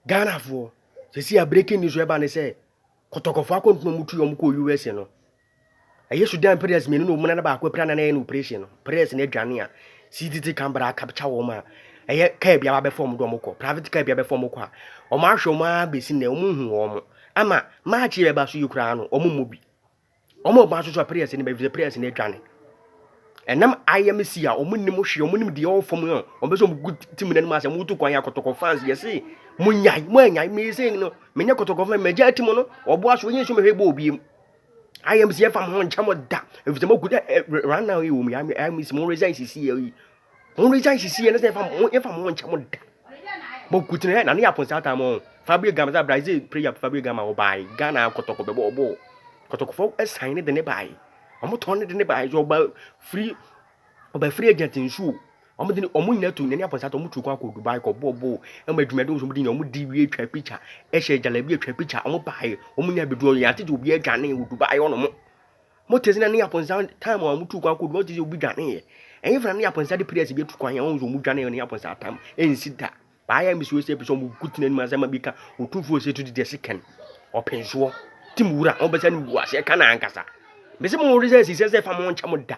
Ghana foɔ sɛsi a breaking news ɛba ne sɛ kɔtɔkɔfoɔ akɔntoma ɔmo tu ɔmo kɔ US no ɛyɛ Sudan players mmienu na ɔmo nana baako apira nana yɛ no operation no players no adwane a CTT Canberra akapkya wɔn a ɛyɛ kaa bi abɛfa ɔmo de ɔmo kɔ private kaa bi abɛfa ɔmo kɔ a ɔmo ahwɛ ɔmo ara besi nɛ ɔmo nhu wɔn ama match yɛ bɛba so yi koraa no ɔmo mmɔ bi. Wɔn a wɔba nso so a prayers no ba efisɛ prayers no adwane. Ɛnam ayamasi a wɔn nim hwee wɔn nim deɛ ɔwɔ fam a wɔn bɛ sɛ wɔn gu tim na nim asɛ wɔn tu kwan yɛ akɔtɔkɔ fans yɛ se mo nyae mo anyae mo ese no me nyɛ kɔtɔkɔ fans mɛ gya ti mo no ɔbo aso yɛn nso mɛ hwɛ bɔ obi mu ayamasi ɛfa mo ho nkyɛn mo da efisɛ mo gu dɛ right now yi wɔn ayamasi mo resign sisi yɛ yi wɔn de gyan sisi yɛ ne sɛ yɛfa mo yɛfa mo nkyɛn mo da bɔ kutina yɛ na ne yɛ aponsa ata mo fabio gama sɛ brazil prayer fabio gama wɔ baa yi ghana kɔtɔkɔ bɛ bɔ ɔbɔ kɔtɔkɔfɔ ɛsan ne de ne baa yi wɔn tɔn ne de ne baa yi so ɔba firi ɔba firi agya ti nsuo wɔn de ne wɔn nyinaa tu ne ne aponsa ata wɔn tu kɔ akɔ dubai kɔ bɔ ɔbɔ ɛma adwuma de wɔn de nyɛ wɔn di wie atwa picture ɛhyɛ gyalabi atwa picture wɔn baa yi wɔn nyinaa bɛ du ɔyɛ ate de obi adwane wɔ dubai wɔn mo. Mote sɛ na ne Yaponsa time a wɔtu kwan kɔdu, mote sɛ obi dwaneeɛ. Ɛnyɛ fana ne Yaponsa de prayers bi atu kwan yɛn, wɔn sɛ wɔn dwane ne Yaponsa time, ɛnsi da. Baayɛ mbisi wɔn sɛ ebi sɛ wɔn ku tena anim asɛm a bi ka, wɔtu fo sɛ tu di deɛ se kɛn, ɔpensoɔ, tim wura, wɔn bɛsa ne wu ase, ɛka na ankasa. Mbisi mo wɔn sɛ sisɛ sɛ fa mo nkyɛn mo da.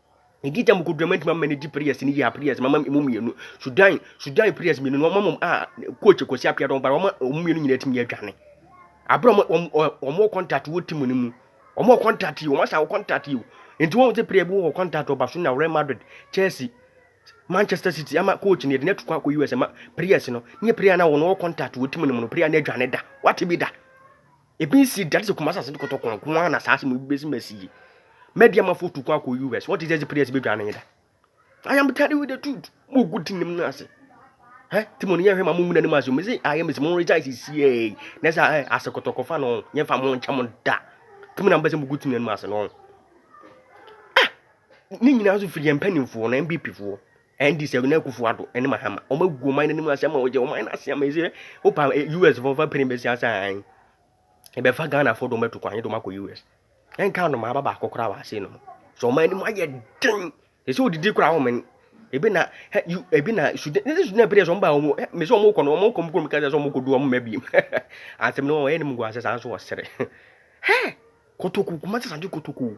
Medi dza mukodur a mɛtumi ama no edzi prayers no yie a prayers mama emu mmienu Sudan Sudan prayers mmienu no wɔma wɔn a coach Kwesi Appiah wɔn ba wɔma wɔn mmienu nyinaa tumi adwane abere wɔn wɔn wɔn wɔ contact wɔ team no mu wɔn wɔ contact yi wɔn asa wɔ contact yi o nti wɔn sɛ prayer bi wɔ contact wɔ Barcelona Real Madrid Chelsea Manchester City ama coach no yɛde no ato kwan akɔ US ma prayers no ne prayer na wɔn wɔ contact wɔ team no mu no prayer no adwane da wate bi da. Ebi nsi da sɛ Kumasi asante kɔtɔkɔ nko ara na saa asɛm yi bɛsi ma si yi. Mɛdi ama fotu kwan akɔ US. What is this place bɛdwa no yeda? I am telling you the truth. Mo gu ti nim no ase. Hɛ ti mo no yɛhwɛ ma mo mu n'anim ase. Mo sɛ ayɛ mo sɛ mo regya esi sie. Na sɛ ɛ ase kɔtɔkɔ fa no yɛn fa mo nkyɛn mo da. Ti mo na mo bɛ sɛ mo gu ti n'anim ase no. Ah! Ne nyinaa nso firi yɛn mpanimfoɔ na MBPfoɔ. NDC Nana Akufo Addo ne Mahama wɔn agu ɔman no anim asɛm a wɔgye ɔman no ase ama yi sɛ wopa eh, US fo mfa pere mbɛsi asa an ɛbɛfa Ghana fo dɔm atu kwan nye dɔm akɔ US ɛnka anoma aba baako koraa wɔ ase no mu sɛ ɔman no mu ayɛ den ɛsɛ odidi koraa wɔn men ebi na hɛ yu ebi na sudan ne sudan pere sɛ wɔn ba wɔn hɛ mesɛ wɔn kɔ no wɔn kɔ mu kɔ mu kasa sɛ wɔn kɔ du wɔn mma bi mu asɛm no wɔn yɛ ne mu gu ase saa nso wɔsere hɛ kotoko kuma sɛ sanje kotoko